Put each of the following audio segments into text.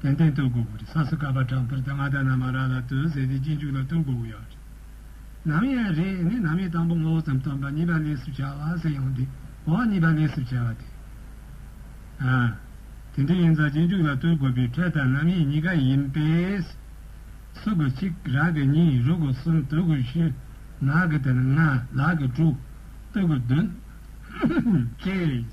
ཏན་ཏན་བསྟོད་དགོས་པོ་རེད་ས་སུ་ཀ་པ་དྲག་པར་ད་ང་ད་ནམ་མ་རག་ལ་དོན་ཟེར་དེ་གཅིག་མཇུག་ལ་བསྟོད་དགོས་པོ་ཡག་རེད། ནམ་ཡང་རེད་ནི་ནམ་ཡང་དང་པོ་ངོ་བོ་ཙམ་སྟོན་པ་གཉིས་པ་ལས་སུ་བྱ་བ་ཟེར་ཡང་དེ་འོག་གཉིས་པ་ལས་སུ་བྱ་བ་དེ་ཨ། དེ་འདྲ་ཡིན་ཙང་གཅིག་མཇུག་ལ་བསྟོད་དགོས་པའི་ཕྲད་དང་རྣམ་དབྱེ་གཉིས་ཀ་ཡིན་པས། སུ་གི་གཅིག་རག་གི་གཉིས་རུ་གི་གསུམ་བསྟོད་དགོས་བཞི་ནག་གི་དང་ལྔ་ལག་གི་དྲུག་བསྟོད་དགོས་བདུན། ཅེས།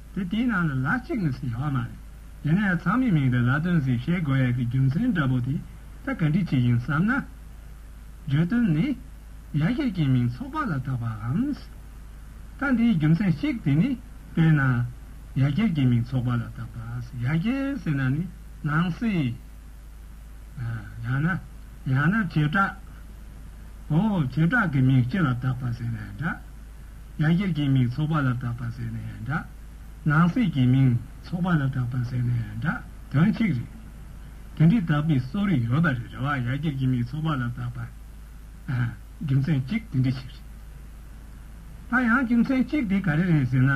དེ་དེའི་ནང་ལ་ལ་གཅིག་ནས་ཟིག་ཡོང་བ་མ་རེད། ཡིན་ན་ཡང་ཚང་མས་མིང་དང་ལ་དོན་ཟིག་བཤད་དགོས་ཡ་གི་རྒྱུ་མཚན་འདྲ་པོ་དེ་ད་ག་འདྲི་བྱེད་ཡིན་བསམ་ན། བརྗོད་དོན་ནི། ཡ་གྱལ་གྱི་མིང་ཚོགས་པ་ལ་བཏགས་པའམ། ད་འདིའི་རྒྱུ་མཚན་གཅིག་དེ་ནི་དཔེར་ན། ཡ་གྱལ་གྱི་མིང་ཚོགས་པ་ལ་བཏགས་པ། ཡ་གྱལ་ཟེར་ན་ནི་ནང་སྲིད། ཡང་ན། ཡང་ན་བྱེ་བྲག། ཨོ། བྱེ་བྲག་གི་མིང་སྤྱི་ལ་བཏགས་པ་ཟེར་ནའི་འདྲ། ཡང་གཞིར་གྱི་མིང་ཚོགས་པ་ལ་གྲགས་པར་ཟེར་ནས་འདྲ། ནང་གསེས་ཀྱི་མིང་ཚོགས་པ་ལ་གྲགས་པར་ཟེར་ནས་འདྲ་དོན་གཅིག་རེད། དེ་འདྲའི་དག་པའི་གསོ་རིག་ཡོད་པ་རེད་རེད་བ་ཡང་གཞིར་གྱི་མིང་ཚོགས་པ་ལ་གྲགས་པར། རྒྱུ་མཚན་གཅིག་དེ་འདྲ་ཞིག་རེད། ད་ཡང་རྒྱུ་མཚན་གཅིག་དེ་ག་རེ་རེད་ཟེར་ན།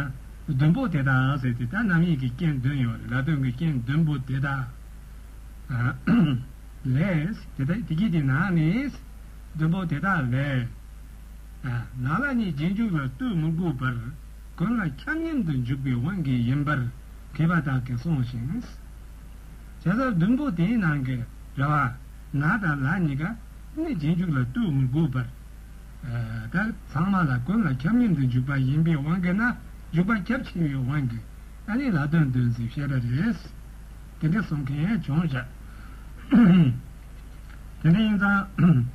བདུན་པོ་དེ་དག་ཟེར་དེ་དག་རྣམ་དབྱེ་གྱི་རྐྱེན་བདུན་ཡོད་རེད་ལ་དོན་གྱི་རྐྱེན་བདུན་པོ་དེ་དག་ལས། དེ་དག་དེ་གྱིས་དེ་ནང་ནས་བདུན་པོ་དེ་དག་ལས། ནགས་ལ་ནི་རྗེས་འཇུག་ལ་ལྟོས་མི་དགོས་པར། གང་ལ་ཁྱབ་མཉམ་དུ་འཇུག་པའི་དབང་གིས་ཡིན་པར་དེས་པ་དག་གིས་གསུངས་ཤིང། བྱ་བཟའ་བདུན་པོ་དེའི་ནང་གི་རེ་བ། ནགས་དང་ལ་གཉིས་ཀ་ནི་རྗེས་འཇུག་ལ་ལྟོས་མི་དགོས་པར། དག་ཚང་མ་ལ་གང་ལ་ཁྱབ་མཉམ་དུ་འཇུག་པ་ཡིན་པའི་དབང་གིས་ན་འཇུག་པ་ཁྱབ་ཆེ་བའི་དབང་གིས་ཨ་ནི་ལ་དོན་དོན་ཟེར་ཤེས་པ་རེད། དེ་འདྲ་གསུངས་མཁན་བྱུང་ཞག་དེ་འདྲ་ཡིན་ཙང།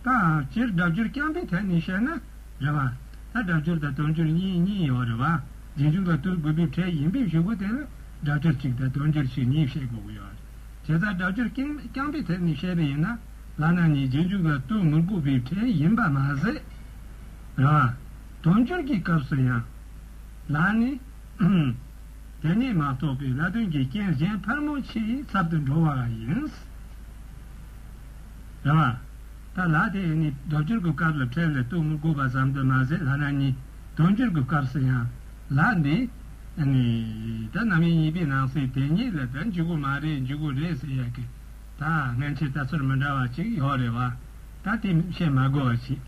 ད་སྤྱིར་སྒྲ་སྦྱོར་རྐྱང་པའི་ཐད་ནས་བཤད་ན་རེད་བ། ད་སྒྲ་སྦྱོར་དང་དོན་སྦྱོར་གཉིས་གཉིས་ཡོད་རེད་བ། རྗེས་འཇུག་ལ་བསྟོད་དགོས་འབེབས་འཕྲལ་ཡིན་འབེབས་ཞུ་དགོས་དེ་ལ་སྒྲ་སྦྱོར་གཅིག་དང་དོན་སྦྱོར་ཕྱིར་གཉིས་བཤད་དགོས་ཀྱི་ཡོད་རེད། བྱས་ཙང་སྒྲ་སྦྱོར་རྐྱང་པའི་ཐད་ནས་བཤད་པ་ཡིན་ན། ལག་ན་ནི་རྗེས་འཇུག་ལ་བསྟོད་མི་དགོས་འབེབས་འཕྲལ་ཡིན་པ་མ་ཟད། རེད་བ། དོན་སྦྱོར་གྱི་སྐབས་སུ་ཡང། ལ་ནི། དེ་ནས་མ་རྟོགས་པའི་ལ་དོན་གྱི་རྐྱེན་གཞན་ཕར་མོ་ཆེའི་ཚབ་ཏུ་འགྲོ་བ་ཡིན། རེད་བ། ད་ལགས་དེ་ཡིན་ནི་དོ་ཅོར་གྱི་སྐབས་ལ་ཕྲན་ལས་གཏུགས་མི་དགོས་པ་ཙམ་དུ་མ་ཟད་ལྷ་ནག་གཉིས་དོན་ཅོར་གྱི་སྐབས་སུ་ཡང་ལགས་འདི་ནི་ད་ནམ་ཡིན་གཉིས་པའི་ནང་སའི་དེ་གཉིས་ལ་ད་འཇུག་གི་མ་རེད་འཇུག་གི་རེད་ཟེར་ཡག་གི་ད་ངན་ཆེ་ད་ཚུར་མི་འདྲ་བ་ཅིག་ཡོག་རེད་བ། ད་དེ་བཤད་མ་དགོས་བ་ཞིག་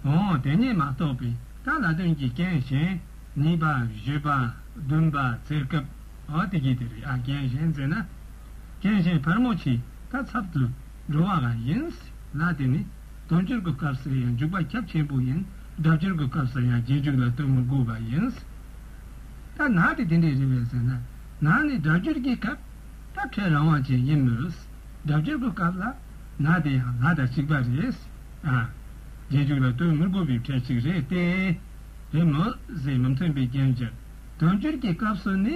འོང་དེ་གཉིས་མ་གཏོགས་པའི་ད་ལ་དོན་གྱི་རྐྱེན་གཞན་གཉིས་པ་བཞི་པ་བདུན་པ་ཟེར་སྐབས་འོ་དེ་གྱིས་དེ་རེད་ཨ་རྐྱེན་གཞན་ཟེར་ན་རྒན་གཞོན་བར་མོ་ཆེའི་ཁ་ཚབ་ཏུ་འགྲོ་བ་འགའ་ཡིན་ལ་དེ་ནི་དོན་སྤྱོད་ཀྱི་སྐབས་སུ་ཡང་འཇུག་པ་ཁྱབ་ཆེན་པོ་ཡིན་སྒྲ་སྦྱོར་གྱི་སྐབས་སུ་ཡང་རྗེས་འཇུག་ལ་ལྟོས་མི་དགོས་པ་ཡིན། ད་ནག་དེ་དེ་འདྲའི་རེད་བས་ཟེར་ན་ནག་ནི་སྒྲ་སྦྱོར་གྱི་སྐབས་ལ་ཕྲད་རང་དབང་ཅན་ཡིན་མོད། སྒྲ་སྦྱོར་གྱི་སྐབས་ལ་ནག་དེ་ཡང་ལ་དང་གཅིག་པ་རེད། རྗེས་འཇུག་ལ་ལྟོས་མི་དགོས་པའི་ཕྲད་ཅིག་རེད་དེ། རེད་མོད། ཟེར་མི་མཐུན་པའི་རྐྱེན་གྱིས་དོན་སྤྱོད་ཀྱི་སྐབས་སུ་ནི།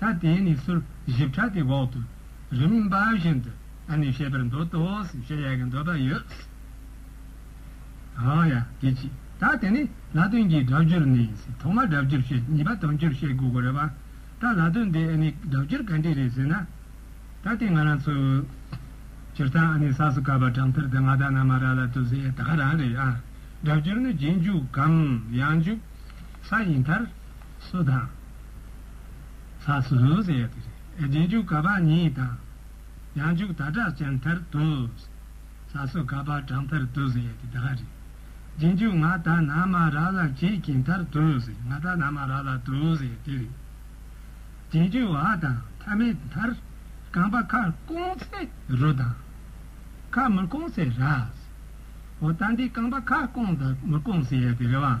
ད་དེས་ནི་སུལ་བཞི་ཕྲ་དེ་འོག་ཏུ་རིམ་པ་བཞིན་དུ་ཨ་ནི་བཤད་པར་འདོད་དོ་ཞེས་ཡ་གྱི་འདོད་པ་ཡོད། ཧཱ་ཡ་དེ་ཅི་ད་དེ་ནི་ལ་དོན་གྱི་སྒྲ་བསྒྱུར་ནི་ཐོག་མར་སྒྲ་བསྒྱུར་བཤད་གཉིས་པ་དོན་བསྒྱུར་བཤད་དགོས་གོ་རེད་བ། ད་ལ་དོན་དེ་ཨ་ནི་སྒྲ་བསྒྱུར་ག་འདྲི་རེད་ཟེར་ན། ད་དེ་ང་རང་ཚོས་སྤྱིར་བཏང་ཨ་ནི་ས་སུ་ཀ་བ་གྲངས་ཐར་དེ་ང་ད་ན་མ་ར་ལ་ཏུ་ཟེ་ད་ག་རང་རེད་ཨ། སྒྲ་བསྒྱུར་ནི་རྗེས་འཇུག་གམ་ཡང་འཇུག་ས་ཡིན་མཐར། སུ་དང། ས་སུ་ཟུང་ཟེར་ཡ་དེ་རེད་ཨེ་རྗེས་འཇུག་ག་པར་ཉིད་དང། ཡང་འཇུག་ད་དྲག་ཅན་མཐར་དུ། ས་སུ་ག་པར་དྲག་མཐར་དུ་ཟེར་ཡ་དེ་དག་རེད་རྗེས་འཇུག་ང་ད་ན་མ་ར་ལ་བྱེད་ཀྱི་མཐར་དུ་ཟེར་ང་ད་ན་མ་ར་ལ་དུ་ཟེར་ཡ་དེ་རེད། རྗེས་འཇུག་བ་དང་ཐ་མའི་མཐར། རྐང་པ་ཁར་བསྐོང་ཚེ་རུ་དང། ཁར་མུར་བསྐོང་ཚེ་ར། འོ་ད་འདི་རྐང་པ་ཁར་བསྐོང་དང་མུར་བསྐོང་ཟེར་ཡ་དེ་རེད་བ།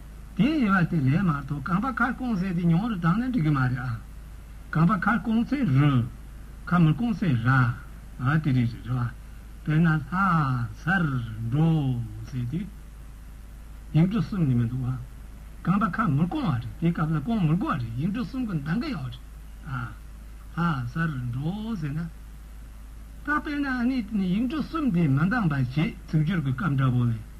དེའི་དབྱེ་བ་དེ་ལས་མ་གཏོགས་གང་པ་ཁར་སྐོང་ཟས་དེ་མྱོང་རུ་དྲངས་ན་འགྲིག་གི་མ་རེད་ཨ། གང་པ་ཁར་སྐོང་ཚེ་རུ། ཁ་མུར་སྐོང་ཚེ་ར། དེ་རེད་རེད་བ། དཔེར་ན་ལྷ། སར། འགྲོ། ཟེར་དུས། ཡིག་འབྲུ་གསུམ་ནི་མི་འདུག་ཨ། གང་པ་ཁ་མུར་སྐོང་བ་རེད་དེའི་སྐབས་ལ་སྐོང་མི་དགོས་བ་རེད་ཡིག་འབྲུ་གསུམ་གི་འདང་གི་ཡོད་རེད་ཨ། ལྷ། སར། འགྲོ། ཟེར་ན། ད་དཔེར་ན་ཨ་ནི་ཡིག་འབྲུ་གསུམ་དེ་མ་འདང་བ་བྱེད་ཚིག་སྦྱོར་གྱི་སྐབས་འདྲ་བོ་ལས།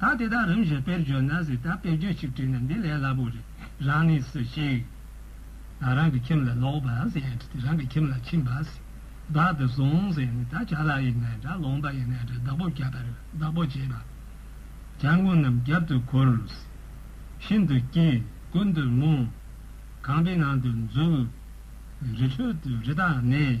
ད་དེ་དག་རིམ་བཞིན་དཔེར་བརྗོད་ན་སྲིད་ད་དཔེར་བརྗོད་གཅིག་བྲིས་ན་འདི་ལས་སླ་པོ་རེད་རང་ནི་སུ་ཞིག་རང་གི་ཁྱིམ་ལ་ལོག་པར་ཟད་དེ་རང་གི་ཁྱིམ་ལ་ཕྱིན་པར་ཟད་བདག་དེ་བཟུང་ཟེར་ནས་ད་བྱ་ལ་ཡི་ནས་དགྲ་ལོང་པ་ཡི་ནས་དགྲ་བདག་པོ་བརྒྱབ་པར་བདག་པོ་བྱེད་པ་བྱ་མགོ་རྣམས་རྒྱབ་ཏུ་འཁོར། ཤིན་ཏུ་སྐྱིད་ཀུན་ཏུ་རྨོངས། ཁང་པའི་ནང་དུ་འཛུལ། རི་ཁྲོད་དུ་རི་དྭགས་གནས།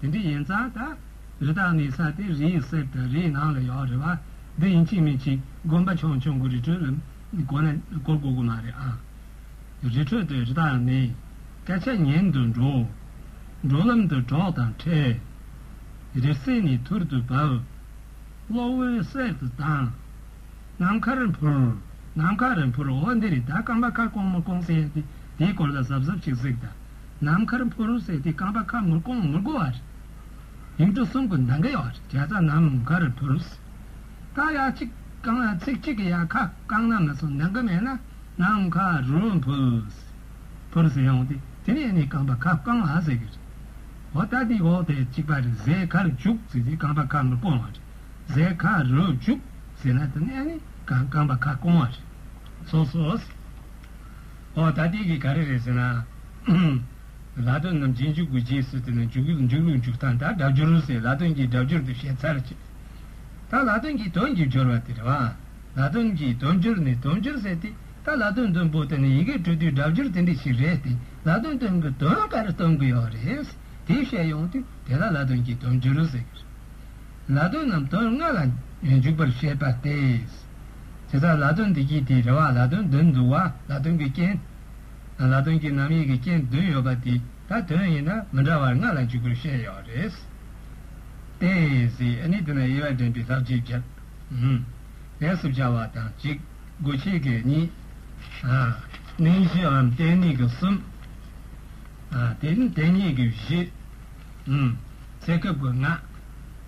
དེ་འདྲ་ཡིན་ཙང་ད་རི་དྭགས་ནི་ས་སྟེང་རི་ཡི་གསེབ་དང་རི་ཡི་ནང་ལ་ཡོད་རེད་བ། འདི་ཡིན་གཅིག་མིན་གཅིག་དགོན་པ་ཆུང་ཆུང་གི་རི་ཁྲོད་ལ་གོ་ན་གོ་དགོས་ཀྱི་མ་རེད་ཨང། རི་ཁྲོད་དུ་རི་དྭགས་ནི་སྐད་ཆ་ཉན་དུ་འགྲོ། འགྲོ་ལམ་དུ་གྲོགས་དང་འཕྲད། རི་སེར་ནི་ཐུར་དུ་བབས། གློག་འོད་གསལ་དུ་ལྡང། ནམ་མཁར་འཕུར། ནམ་མཁར་འཕུར་འོ་འདི་རི་དྭགས་སྐམ་པ་ཁ་སྐོང་མོ་སྐོང་སའི་ཡ་དེ་དེའི་སྐོར་ལ་གཟབ་གཟབ་ཅིག་གཟིགས་དང། ནམ་མཁར་ཕོ་རུ་སེར་ཏི་རྐང་པ་ཁ་མུར་ཀོང་མུར་གོ་བ། ཡུལ་གྲུ་གསུམ་གྱི་མདངས་ཀྱི་བར་བྱ་ས་ནམ་མཁར་ཕོ་རུ་སེར་ཀ་ཡ་གཅིག་རྐང་ཚིགས་གཅིག་གི་ཡ་ཁ་རྐང་ན་མི་སོ་མདངས་ཀྱི་མེད་ན་ནམ་མཁའ་རུ་ཕོ་རུ་སེར་ཕོ་རུ་སེར་ཡོང་སྟེ་དེ་ནས་ནི་རྐང་པ་ཁ་རྐང་ལ་ཟེར་གྱི་རེད། འོ་ད་འདི་འོག་ཏེ་གཅིག་པ་རེ་ཟེར་ཁར་འཇུག་ཟེར་ཏི་རྐང་པ་ཁ་མུར་ཀོང་བ་རེ་ཟེར་ཁ་རུ་འཇུག་ཟེར་ན་དེ་ནས་ནི་རྐང་པ་ཁ་རྐོང་བ་རེ་ཟོ་སོ། ཨོ་ད་ལྟའི་གི་ག་རེ་རེད་ཟེར་ན། ལ་དོན་རྣམས་རྗེས་འཇུག་གི་རྗེས་ཟེར་ཏེ་ན་འཇུག་གི་འཇུག་ལུགས་འཇུག་སྟངས་དང་སྒྲ་སྦྱོར་ལུགས་ཟེར་ལ་དོན་གྱི་སྒྲ་སྦྱོར་དུ་ཞེས་ཚར་བཅད་ད་ལ་དོན་གྱི་དོན་གྱི་སྦྱོར་བ་དེ་རེད་བ། ལ་དོན་གྱི་དོན་སྦྱོར་ནི་དོན་སྦྱོར་ཟེར་ཏེ་ད་ལ་དོན་དོན་པོ་དེ་ནི་ཡི་གེ་སྤྲོད་དུས་སྒྲ་སྦྱོར་དེ་འདྲི་ཞིག་རེད་དེ་ལ་དོན་དོན་གྱི་དོན་ག་རེ་སྟོན་གི་ཡོད་རེད་དེ་བཤད་ཡོང་དུས་དེ་ལ་ལ་དོན་གྱི་དོན་སྦྱོར་ཟེར། ལ་དོན་རྣམས་དོན་ལྔ་ལ་འཇུག་པར་བཤད་པ་སྟེ། དེ་ལྟར་ལ་དོན་འདི་ཀྱི་དེའི་རེ་བ་ལ་དོན་བདུན་འདུ་བ་ལ་དོན་གྱི་རྐྱེན་དང་ལ་དོན་གྱི་ནམ་ཡིན་གྱི་རྐྱེན་བདུན་ཡོད་པ་འདི་དག་དོན་ཡིན་ན་མི་འདྲ་བར་ལྔ་ལ་འཇུག་པར་བཤད་ཡོད་རེད། ཏེ། ནི་དེ་ན་དབྱེ་བ་འདྲེན་པའི་ལྷག་ཆད་བརྒྱད། ལས་སུ་བྱ་བ་དང་གཅིག། དགོས་ཆེད་ཀྱི་གཉིས། ནི་བཞིའམ་རྟེན་གཉིས་ཀྱི་གསུམ། དེ་ནི་རྟེན་གཉིས་ཀྱི་བཞི། ཚེ་སྐབས་ཀྱི་ལྔ།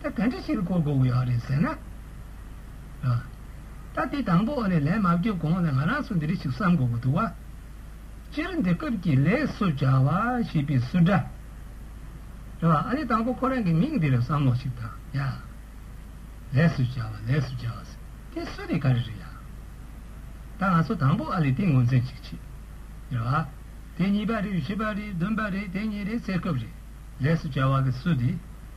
ད་ག་འདྲི་ཕྱིར་གོ་དགོས་ཀྱི་ཡོད་རེད་ཟེར་ན། ད་དེ་དང་པོ་ནས་ལན་མ་བརྒྱབ་གོང་ལ་ང་རང་ཚོ་འདི་རེ་ཞིག་བསམ་དགོས་ཀྱི་འདུག་བ། སྤྱིར་འདི་སྐབས་ཀྱི་ལས་སུ་བྱ་བ་ཞེས་པའི་སུ་འདྲ། རེད་བ། ཨ་ནི་དང་པོ་ཁོ་རང་གི་མིང་འདི་རེ་བསམ་བློ་ཞིག་བཏང་ཡ། ལས་སུ་བྱ་བ་ལས་སུ་བྱ་བ་ཟེར་དེ་སུ་རེད་ག་རེ་རེད་ཡ། ད་ང་ཚོ་དང་པོ་ཨ་ལས་དེ་ངོས་འཛིན་ཅིག་བྱེད། རེད་བ། དེ་གཉིས་པ་རེད་བཞི་པ་རེད་བདུན་པ་རེད་དེ་གཉིས་རེད་ཟེར་སྐབས་རེད་ལས་སུ་བྱ་བ་གི་སུ་དེ།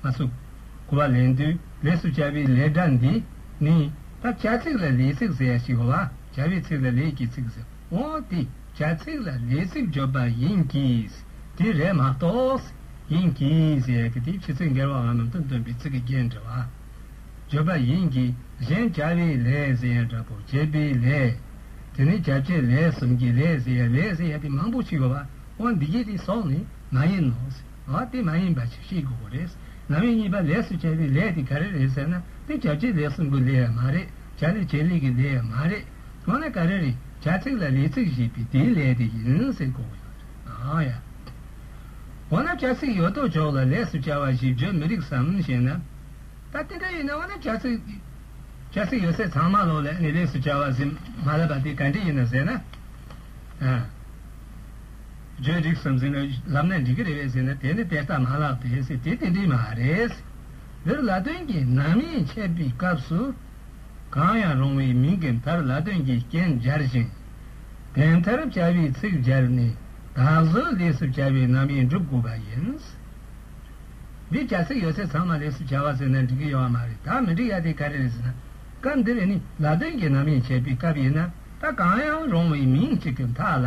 མ་བསུབ། དགུ་བ་ལན་བདུན་ལས་སུ་བྱ་བའི་ལས་སྒྲ་འདི་ནི། ད་བྱ་ཚིག་ལ་ལས་ཚིག་ཟེར་ཡ་ཞིག་ལ་བྱ་བའི་ཚིག་ལ་ལས་ཀྱི་ཚིག་ཟེར་འོ་དེ་བྱ་ཚིག་ལ་ལས་ཚིག་བརྗོད་པ་ཡིན་གྱིས་དེ་རེད་མ་གཏོགས། ཡིན་གྱིས་ཟེར་ཡ་གི་དེ་ཕྱི་ཚིག་འགལ་བའང་ནང་དོན་སྟོན་པའི་ཚིག་གི་རྒྱན་འདྲ་བ། བརྗོད་པ་ཡིན་གྱིས་གཞན་བྱ་བའི་ལས་ཟེར་ཡ་འདྲ་པོ་བྱེད་པའི་ལས། དེ་ནི་བྱ་བྱེད་ལས་གསུམ་གྱི་ལས་ཟེར་ཡ་ལས་ཟེར་ཡ་དེ་མང་པོ་ཞིག་ཡོད་པ་འོ་འདི་གའི་དེ་སོགས་ནི་མ་ཡིན་ནོ། ལ་དེ་མ་ཡིན་པ་ཞིག་ཤེས་དགོས་པ་རེད། ནང་མི་གཉིས་པ་ལས་སུ་བྱ་བའི་ལས་དེ་ག་རེ་རེད་ཟེར་ན་དེ་བྱ་བྱེད་ལས་གསུམ་གི་ལས་ཡང་མ་རེད་བྱ་ལས་བྱེད་ལས་ཀྱི་ལས་ཡང་མ་རེད། འོ་ན་ག་རེ་རེད་བྱ་ཚིག་ལ་ལས་ཚིག་ཞེས་པའི་དེའི་ལས་དེ་ཡིན་ཟེར་དགོས་པ་ཡོད་རེད། ཡ། འོ་ན་བྱ་ཚིག་ཡོད་དོ་ཅོག་ལ་ལས་སུ་བྱ་བ་ཞིག་བརྗོད་མི་རིགས་སམ་ཞེ་ན། ད་དེ་འདྲ་ཡིན་ན་འོ་ན་བྱ་ཚིག་བྱ་ཚིག་ཡོད་ཚད་ཚང་མ་ལོག་ལས་ནས་ལས་སུ་བྱ་བ་ཟེར་མ་ལབ་པ་དེ་ག་འདྲ་ཡིན་ན་ཟེར་ན། བརྗོད་རིགས་སམ་ཟེར་ནས་ལབ་ན་འགྲིག་གི་རེད་ཟེར་ན་དེ་ནི་དེ་ལྟ་མ་ལགས་པས་སེ་དེ་དེ་འདྲིས་མ་རེད། འདིར་ལ་དོན་གྱི་ནང་མིང་འཆད་པའི་སྐབས་སུ། གང་ཡང་རུང་བའི་མིང་གི་མཐར་ལ་དོན་གྱི་རྐྱེན་སྦྱར་ཞིང། དེ་མཐར་བྱ་བའི་ཚིག་སྦྱར་ནས་དག་བཟོའི་ལས་སུ་བྱ་བའི་རྣམ་དབྱེ་འགྲུབ་དགོས་པ་ཡིན། འདིར་བྱ་ཚིག་ཡོད་ཚད་ཚང་མ་ལས་སུ་བྱ་བ་ཟེར་ན་འགྲིག་གི་ཡོད་བ་མ་རེད་ད་མི་འགྲིག་ཡ་དེ་ག་རེད་ཟེར་ན། སྐབས་འདིར་ནི་ལ་དོན་གྱི་ནང་མིང་འཆད་པའི་སྐབས་ཡིན་ན་ད་གང་ཡང་རུང་བའི་མིང་གཅིག་གི་མཐའ་ལ།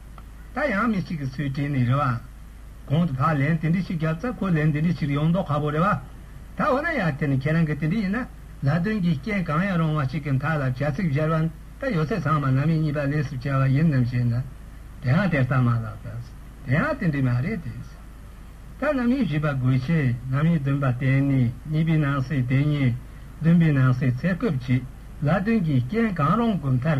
ད་ཡང་མི་གཅིག་གི་ཚུལ་དྲན་ནས་རེ་བ། གོང་དུ་ཕར་ལན་དེ་འདྲི་ཞིག་བརྒྱབ་ཙང་ཁོས་ལན་དེ་འདྲི་ཞིག་ཡོང་མདོག་ཁ་བོ་རེ་བ། ད་འོ་ན་ཡར་དེ་ནི་ཁྱེད་རང་གི་དེ་འདྲི་ཡིན་ན་ལ་དོན་གྱི་རྐྱེན་གང་ཡང་རུང་བ་ཞིག་གི་མཐའ་ལ་བྱ་ཚིག་སྦྱར་བ་ད་ཡོད་ཚད་ཚང་མ་ནང་མི་གཉིས་པ་ལས་སུ་བྱས་བ་ཡིན་ནམ་ཞེ་ན། དེ་ཡང་དེ་ལྟ་མ་ལགས་པས་དེ་ཡང་དེ་འདྲི་མ་རེད་དེ། ད་ནང་མི་བཞི་པ་དགོས་ཆེད་ནང་མི་བདུན་པ་བསྟེན་ནས་གཉིས་པའི་ནང་སའི་དེ་ཉིད་བདུན་པའི་ནང་སའི་ཚད་སྐབས་ཀྱི་ལ་དོན་གྱི་རྐྱེན་གང་རུང་གི་མཐར་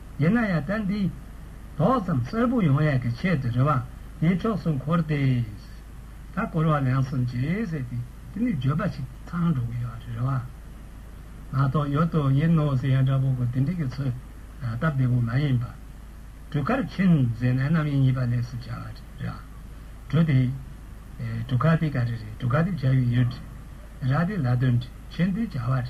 ཡིན་ན་ཡང་ད་འདི། དོགས་ཙམ་གསལ་པོ་ཡོང་ཡས་ཀྱི་ཆེད་དུ་རེ་བ་འདི་ཕྱོགས་སུ་འཁོར་ཏེ། ད་སྐོར་བ་ལན་གསུམ་བྱས་ཟེར་ཏེ་དེ་ནི་བརྗོད་པ་ཞིག་ཚང་འགྲོ་གི་ཡོད་རེ་བ། ང་དོགས་ཡོད་དོ་ཡིན་ནོ་ཟེར་ཡ་འདྲ་པོ་གོ་དེ་འདྲི་གི་ཚོད་སྟབས་བདེ་པོ་མ་ཡིན་པ། གྲུ་ཁར་ཕྱིན་ཟེར་ནས་རྣམ་གཡེང་གཉིས་པ་ལས་སུ་བྱ་བ་རེ་བ། གྲུ་དེ། གྲུ་ཁ་དེ་ག་རེ་རེད་གྲུ་ཁ་དེ་བྱ་ཡུལ་ཡོད་རེད། ར་དེ་ལ་དོན་ཕྱིན་དེ་བྱ་བ་རེད།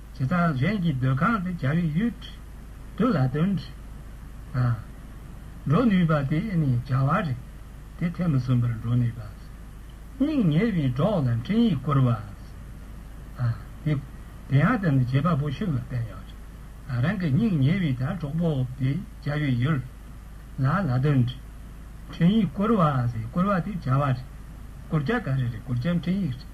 བྱེ་ཐང་གཞན་གྱི་སྡོད་ཁང་དུ་གྱ་བའི་ཡུལ་དུ་ལ་དོན་དུ་འགྲོ་ནུས་པ་དེ་ནི་བྱ་བ་རེད་དེ་ཐེངས་མི་གསུམ་པར་འགྲོ་ནུས་པ། སྙིང་ཉེ་བའི་གྲོགས་ལ་འཕྲིན་ཡིག་བསྐུར་བ། དེ་ཡང་དེ་ནི་བྱེད་པ་པོ་ཞིག་ལ་བསྟན་ཡོད་རེད། རང་གི་སྙིང་ཉེ་བའི་དང་གྲོགས་པོ་དེ་གྱ་བའི་ཡུལ་ལ་ལ་དོན་དུ་འཕྲིན་ཡིག་བསྐུར་བ། བསྐུར་བ་དེ་བྱ་བ་རེད། བསྐུར་བྱ་ག་རེ་རེད་བསྐུར་བྱ་འཕྲིན་ཡིག་རེད།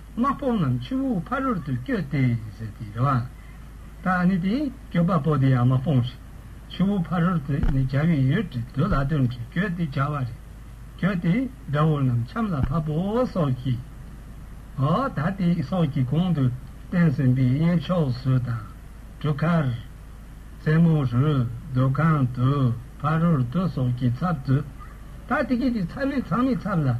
དམག་དཔུང་རྣམས་ཆུ་བོའི་ཕ་རོལ་ཏུ་བསྐྱོད་དེ། ཟེར་ཏེ་རེ་བ། ད་ནི་དེ་སྐྱོད་པ་པོ་དེའི་དམག་དཔུང་ཞིག་ཆུ་བོའི་ཕ་རོལ་ཏུ་ནི་རྒྱ་བའི་ཡུལ་གྱི་མདོ་ལ་དོན་གྱིས་བསྐྱོད་དེ་བྱ་བ་རེ་བསྐྱོད་དེ་དགྲ་བོ་རྣམས་ཆམ་ལ་ཕབ་བོ་སོགས་ཀྱིའོ། ད་དེ་སོགས་ཀྱི་གོང་དུ་བསྟན་ཟིན་པའི་གཡས་ཕྱོགས་སུ་དང་གྲུ་ཁར། རྩེ་མོ་རུ། སྡོད་ཁང་དུ། ཕ་རོལ་ཏུ་སོགས་ཀྱི་ཚབ་ཏུ། ད་དེ་སྐད་ཅིག་ཚ་མེད་ཚང་མའི་ཚབ་ལ།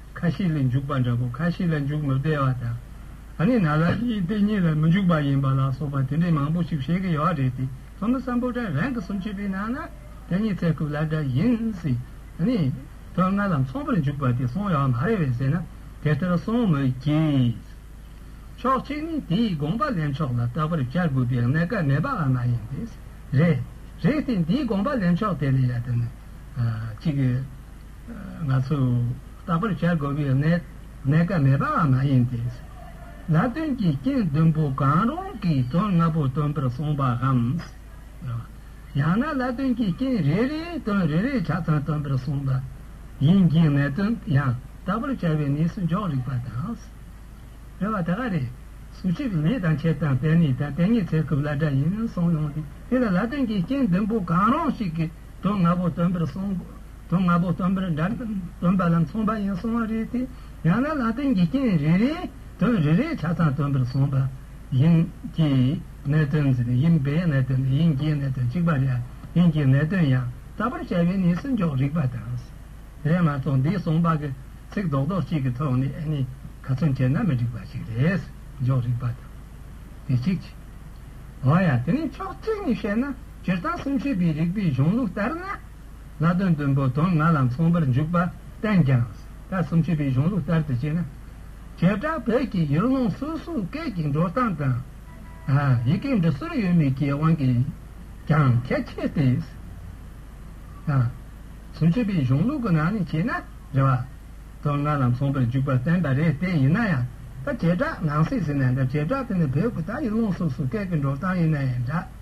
ཁ་ཤས་ལ་འཇུག་པ་འདྲ་པོ་ཁ་ཤས་ལ་འཇུག་མི་བདེ་བ་དང། ད་ནི་ན་ལ་ཞིག་སྟེ་གཉིས་ལ་མི་འཇུག་པ་ཡིན་པ་ལ་སོགས་པ་དེ་འདྲའི་མང་པོ་ཞིག་བཤད་ཀྱི་ཡོད་རེད་དེ་ཚོ་ནི་བསམ་པོ་དྲན་རང་གི་སུམ་ཅུ་པའི་ནང་ན་དེ་གཉིས་ཚད་ཐུབ་ལ་འདྲ་ཡིན་སྲིད་ནི། དོན་ལྔ་ལ་མཚུངས་པར་འཇུག་པ་དེ་སོང་ཡོད་མ་རེད་བས་ཟེར་ན་དེ་ལྟར་སོང་མི་གྱིས། ཕྱོགས་གཅིག་ནི་དེའི་དགོངས་པ་ལེན་ཕྱོགས་ལ་རྟག་པར་བྱ་དགོས་པའི་གནད་འགག་མེད་པའང་མ་ཡིན་པས་རེད། རེད་དེ་འདིའི་དགོངས་པ་ལེན་ཕྱོགས་དེ་ལ་ཡ་དེ་ནི་གཅིག། ང་ཚོས་དག་པར་བྱ་དགོས་པའི་གནད་འགག་མེད་པའང་མ་ཡིན་ཏེ། ལ་དོན་གྱི་རྐྱེན་བདུན་པོ་གང་རུང་གིས་དོན་ལྔ་པོ་སྟོན་པར་གསུངས་པའམ། ཡང་ན་ལ་དོན་གྱི་རྐྱེན་རེ་རེས་དོན་རེ་རེའི་ཆ་ཚང་སྟོན་པར་གསུངས་པ་ཡིན་གྱི་གནད་དོན་ཡང་དག་པར་བྱ་བའི་གནས་སུ་འཇོག་རིགས་པ་དང། རེ་བ་ད་ག་རེ། ཟུར་གཅིག་ལས་དང་ཕྱེད་དང་དེ་གཉིས་དང་དེ་གཉིས་ཚད་སྐུབ་ལ་སྒྲ་ཡིན་གསུངས་ཡོང་སྟེ་དེ་ལ་ལ་དོན་གྱི་རྐྱེན་བདུན་པོ་གང་རུང་ཞིག་གིས་དོན་ལྔ་པོ་སྟོན་པར་གསུངས། དོན་ལྔ་པོ་སྟོན་པའི་སྒྲ་རྣམས་སྟོན་པ་ལ་མཚུངས་པ་ཡིན་གསུང་བ་རེད་དེ། ཡང་ན་ལ་དོན་གྱི་རྐྱེན་རེ་རེས་དོན་རེ་རེའི་ཆ་ཚང་སྟོན་པར་གསུངས་པ་ཡིན་གྱི། གནས་དོན་ཟེར་ནས་ཡིན་པས་གནས་དོན་ནི་དབྱིན་སྐད་གནས་དོན་གཅིག་པ་རེད་དབྱིན་སྐད་གནས་དོན་ཡང་དག་པར་བྱ་བའི་གནས་སུ་འཇོག་རིགས་པ་དང། དེས་མ་ཚོགས་འདིའི་གསུངས་པ་གི་ཚིག་རྡོག་རྡོག་གཅིག་གི་ཐོག་ནས་ཨེ་ནི་ག་ཚོད་འཁྱེར་ན་མི་འགྲིག་པ་ཞིག་རེད་འཇོག་རིགས་པ་དང། དེ་གཅིག་གཅིག། འོན་ཡང་དེ་ནི་ཕྱོགས་གཅིག་ནས་བཤད་ན་སྤྱིར་བཏང་སེམས་ཤེས་པའི་རིགས་པའི་གཞུང་ལུགས་ལྟར་ན། ལྷག་དོན་དུ་འབོ་དོང་ང་ལ་མཚུངས་པར་འཇུག་པར་བསྟན་ཀྱང། ད་སུམ་ཅུ་པའི་གཞུང་ལུགས་ལྟར་དུ་བྱས་ན། བྱེ་བྲག་བོད་ཀྱི་ཡུལ་ལུང་སོ་སོའི་སྐད་ཀྱི་འགྲོ་སྟངས་དང། ཡི་གེའི་འབྲི་སྲོལ་ཡོད་མེད་ཀྱི་དབང་གིས་ཀྱང་ཁྱད་ཆེ་སྟེ། སུམ་ཅུ་པའི་གཞུང་ལུགས་ཀྱི་ནང་ནས་བྱས་ན་རེ་བ་དོང་ང་ལ་མཚུངས་པར་འཇུག་པར་བསྟན་པ་རེད་དེ་ཡིན་ན་ཡང། ད་བྱེ་བྲག་ནང་གསེས་ཟེར་ནའང་འདྲ་བྱེ་བྲག་དེ་ནི་བོད་ཀྱི་ད་ཡུལ་ལུང་སོ་སོའི་སྐད་ཀྱི་འགྲོ་སྟངས་ཡིན་ན་ཡང་འདྲ།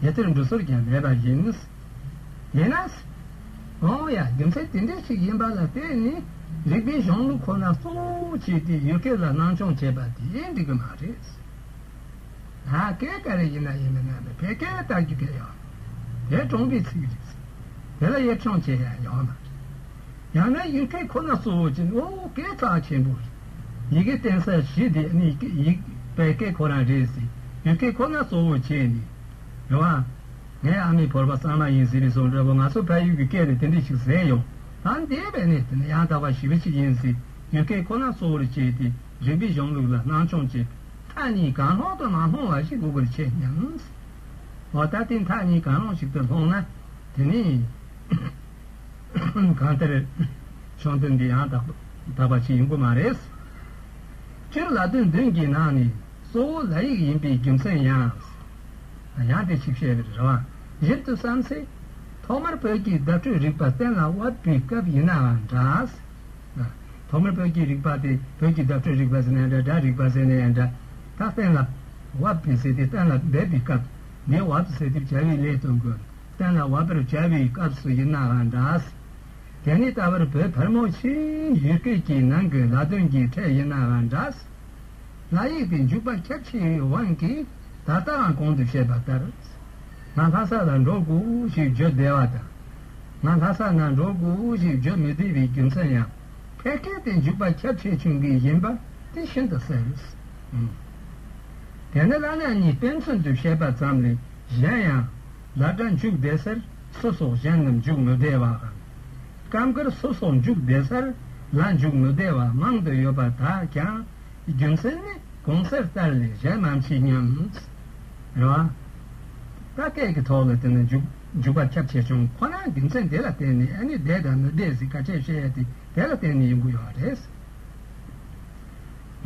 དེ་ལྟར་འབྲུ་ཟུར་ཀྱང་མེད་པ་ཡིན། ཡིན་ན། ཨོ་ཡ་རྒྱུ་མཚན་དེ་འདྲ་ཞིག་ཡིན་པ་ལ་དེ་ནི་རིག་པའི་གཞུང་ལུགས་ཁོ་ན་གཙོ་བོ་བྱས་ཏེ་ཡུལ་སྐད་ལ་སྣང་ཆུང་བྱས་པ་དེ་འགྲིག་གི་མ་རེད། ད་སྐད་ག་རེ་ཡིན་ན་ཡིན་མིན་ན་བོད་སྐད་ལྟར་རྒྱུ་སྐད་ཡོང། དེ་གྲོངས་པའི་ཚིག་རེད། དེ་ལ་གཡེར་ཆང་བྱེད་ཡ་ཡོང་མ་རེད། ཡང་ན་ཡུལ་སྐད་ཁོ་ན་གཙོ་བོ་བྱས་ནས་ཨོ་སྐད་གྲགས་ཆེན་པོ་རེད། ཡི་གེ་བསྟན་ས་བཞི་དེ་ནི་ཡིག་པའི་སྐད་ཁོ་རང་རེད་ཟེར་ཡོད་སྐད་ཁོ་ན་གཙོ་བོར་བྱས་ནས་རེད་བ། ངའི་ཨ་མའི་བོར་བ་གཙང་མ་ཡིན་ཟེར་བའི་བཟོ་འདྲ་བོ་ང་ཚོ་ཕ་ཡུལ་གྱི་སྐད་ནས་དེ་འདྲས་ཤིག་ཟེར་ཡོང་ད་འདས་པའི་ནས་དེ་ནི་ཡང་དག་པ་ཞི་བ་ཞིག་ཡིན་ཟེར་ཡོད་སྐད་ཁོ་ན་གཙོ་བོར་བྱས་ཏེ་རིག་པའི་གཞུང་ལུགས་ལ་སྣང་ཆུང་བྱེད་པའི་མཐའ་གཉིས་གང་སློང་དུ་མ་སློང་བ་ཞིག་དགོས་པར་བྱས་སྙམ། འོ་ད་དེ་མཐའ་གཉིས་གང་སློང་ཞིག་ཏུ་སློང་ན་དེ་ནི། གང་ལྟར། ཆུང་དུས་འདི་ཡང་དག་པ་ཞིག་ཡིན་པོ་མ་རེད། སྤྱིར་ལ་དོན་བདུན་གྱི་ནང་ནས་གཙོ་བོ་ལ་ཡིག་ཡིན་པའི་རྒྱུ་མཚན་ཡང། ཡང་དེ་ཞིག་བཤད་པའི་རེ་བ་ཞིབ་ཏུ་བསམ་ཚེ། ཐོག་མར་བོད་ཀྱི་བརྡ་སྤྲོད་རིག་པ་གཏན་ལ་དབབ་པའི་སྐབས་ཡིན་ནའང་འདྲ། ཐོག་མར་བོད་ཀྱི་རིག་པ་དེ་བོད་ཀྱི་བརྡ་སྤྲོད་རིག་པ་ཟེར་ན་ཡང་འདྲ་སྒྲ་རིག་པ་ཟེར་ན་ཡང་འདྲ། ད་གཏན་ལ་དབབ་པའི་ཟེར་དེ་གཏན་ལ་འབེབས་པའི་སྐབས་འདིའི་དབབ་ཟེར་དེ་བྱ་བའི་ལས་དོན་དགོས། གཏན་ལ་བབ་པར་བྱ་བའི་སྐབས་སུ་ཡིན་ནའང་འདྲ། དེ་ནི་ད་བར་བོད་ཕལ་མོ་ཆེའི་ཡིག་སྐད་ཀྱི་ནང་གི་ལ་དོན་གྱི་ཕྲད་ཡིན་ནའང་འདྲ། ལ་ཡིག་གི་འཇུག་པ་ཁྱབ་ཆེ་བའི་དབང་གིས་ད་ལྟའང་གོང་དུ་བཤད་པ་ལྟར། ང་ལྷ་ས་ལ་འགྲོ་དགོས་ཞེས་བརྗོད་བདེ་བ་དང། ང་ལྷ་ས་ན་འགྲོ་དགོས་ཞེས་བརྗོད་མི་བདེ་བའི་རྒྱུ་མཚན་ཡང་ཕལ་སྐད་དེ་འཇུག་པ་ཁྱབ་ཆེ་བྱུང་གི་ཡིན་པ་དེ་ཤིན་ཏུ་གསལ། དེ་ནི་བླ་ན་མྱི་དཔེ་མཚོན་དུ་བཤད་པ་ཙམ་ལས། གཞན་ཡང། བླ་གྲྭ་འཇུག་བདེ་སར་སུ་སོགས་གཞན་རྣམས་འཇུག་མི་བདེ་བ་དང། སྐབས་འགར་སུ་སོགས་འཇུག་བདེ་སར་ལ་འཇུག་མི་བདེ་བ་མང་དུ་ཡོད་པ་དག་ཀྱང། རྒྱུ་མཚན་ནི་གོང་གསལ་ལྟར་ལས་གཞན་མ་མཆིས་སྙམ། རེ་བ། བཀའ་གཏད་ཀྱི་ཐོག་ལ་བལྟས་ན་འཇུག་འཇུག་པ་ཁྱབ་ཆེ་ཆུང་ཁོ་ན་རྒྱུ་མཚན་དེ་ལ་བརྟེན་ནས་ཨ་ནི་བདེ་དང་མི་བདེ་ཟིག་ག་ཁྱེད་བཤད་དེ་དེ་ལ་བརྟེན་ནས་ཡོང་གི་ཡོད་རེད།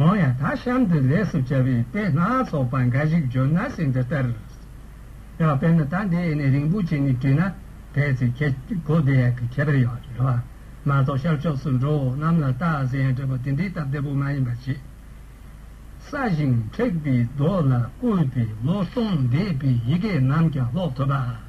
འོང་ཡ་ད་གཤམ་དུ་ལས་སུ་བྱ་བའི་དཔེ་སྣ་ཚོགས་པ་འགའ་ཞིག་བརྗོད་ན་ཟིན་འདི་ལྟར། ཡང་དཔེར་ན་ད་འདི་ཡེ་ནས་རིན་པོ་ཆེ་ནི་བྲིས་ན་དེའི་ཚེ་ཁྱེད་སྒོ་བདེ་ཡག་གི་ཁྱད་པར་ཡོང་རེད་བ། མ་གཏོགས་ཤར་ཕྱོགས་སུ་འགྲོ་འོང་གནམ་ལ་བལྟ་ཟེར་ཡང་བྲིས་པ་དེ་འདི་ལྟ་བདེ་པོ་མ་ཡིན་པ་ཆེ་ས་བཞིན་མཁྲེགས་པའི་རྡོ་ལ་བརྐོས་པའི་ལོ་སྟོང་འདས་པའི་ཡི་གེ་རྣམས་ཀྱང་ཀློག་ཐུབ་པ།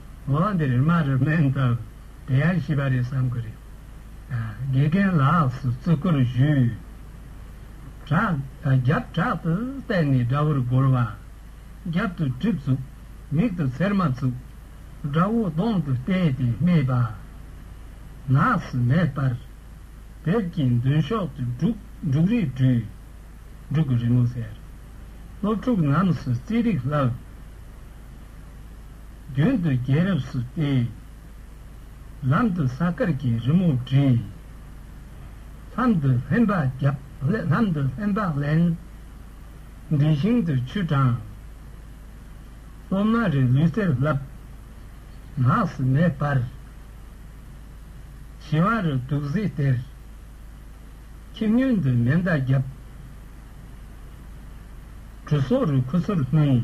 འོ་འདིར་རྨ་རུ་སྨན་སྟབས་བདེ་ཡག་ཤེས་པ་རེད་བསམ་གི་རེད། དགེ་རྒན་ལགས་སུ་བརྩི་བཀུར་ཞུ། བྲག་རྒྱབ་བྲག་ཏུ་བལྟས་ནས་དགྲ་བོར་རྒོལ་བ། རྒྱབ་ཏུ་གྲིབ་བཙུག་མིག་ཏུ་ཚེར་མ་བཙུག། དགྲ་བོ་གདོང་དུ་བལྟས་ཏེ་སྨྲས་པ། ནགས་སུ་མེ་སྤར། བེབས་ཀྱིས་མདུན་ཤོག་ཏུ་འབྲུག་འབྲུག་རིས་སྦྲུལ། འབྲུག་གི་རི་མོ་ཟེར། སློབ་ཕྲུག་རྣམས་སུ་རྩིས་རིག་བསླབས། མདུན་དུ་རྒྱལ་རབས་སུ་བལྟས། ལམ་དུ་ས་དཀར་གྱི་རི་མོ་བྲིས། ལྷམ་དུ་ལྷན་བག་བརྒྱབ་ལྷམ་དུ་ལྷན་བག་ལེན། འདྲེ་ཞིང་དུ་ཆུ་དྲངས། སློབ་མ་རེ་ལུས་གསེར་བརླབ། ནགས་སུ་མེ་སྦར། བྱི་བ་རུ་དུག་གཟི་སྟེར། ཁྱི་སྨྱོན་དུ་མེ་མདའ་བརྒྱབ། གྲུ་སོག་རུ་ཁུ་ཚུར་བསྣུན།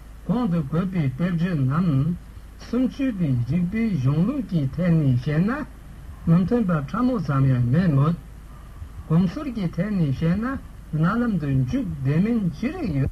གོང་དུ་བཀོད་པའི་དཔེར་བརྗོད་རྣམས་གསུམ་ཚུལ་དུ་རིགས་པའི་གཞུང་ལུགས་ཀྱི་ཐད་ནས་བཤད་ན་མི་མཐུན་པ་ཕྲ་མོ་ཙམ་ཡང་མེད་མོད། གོམས་སྲོལ་གྱི་ཐད་ནས་བཤད་ན་རྣ་ལམ་དུ་འཇུག་བདེ་མིན་ཅི་རིགས་ཡོད།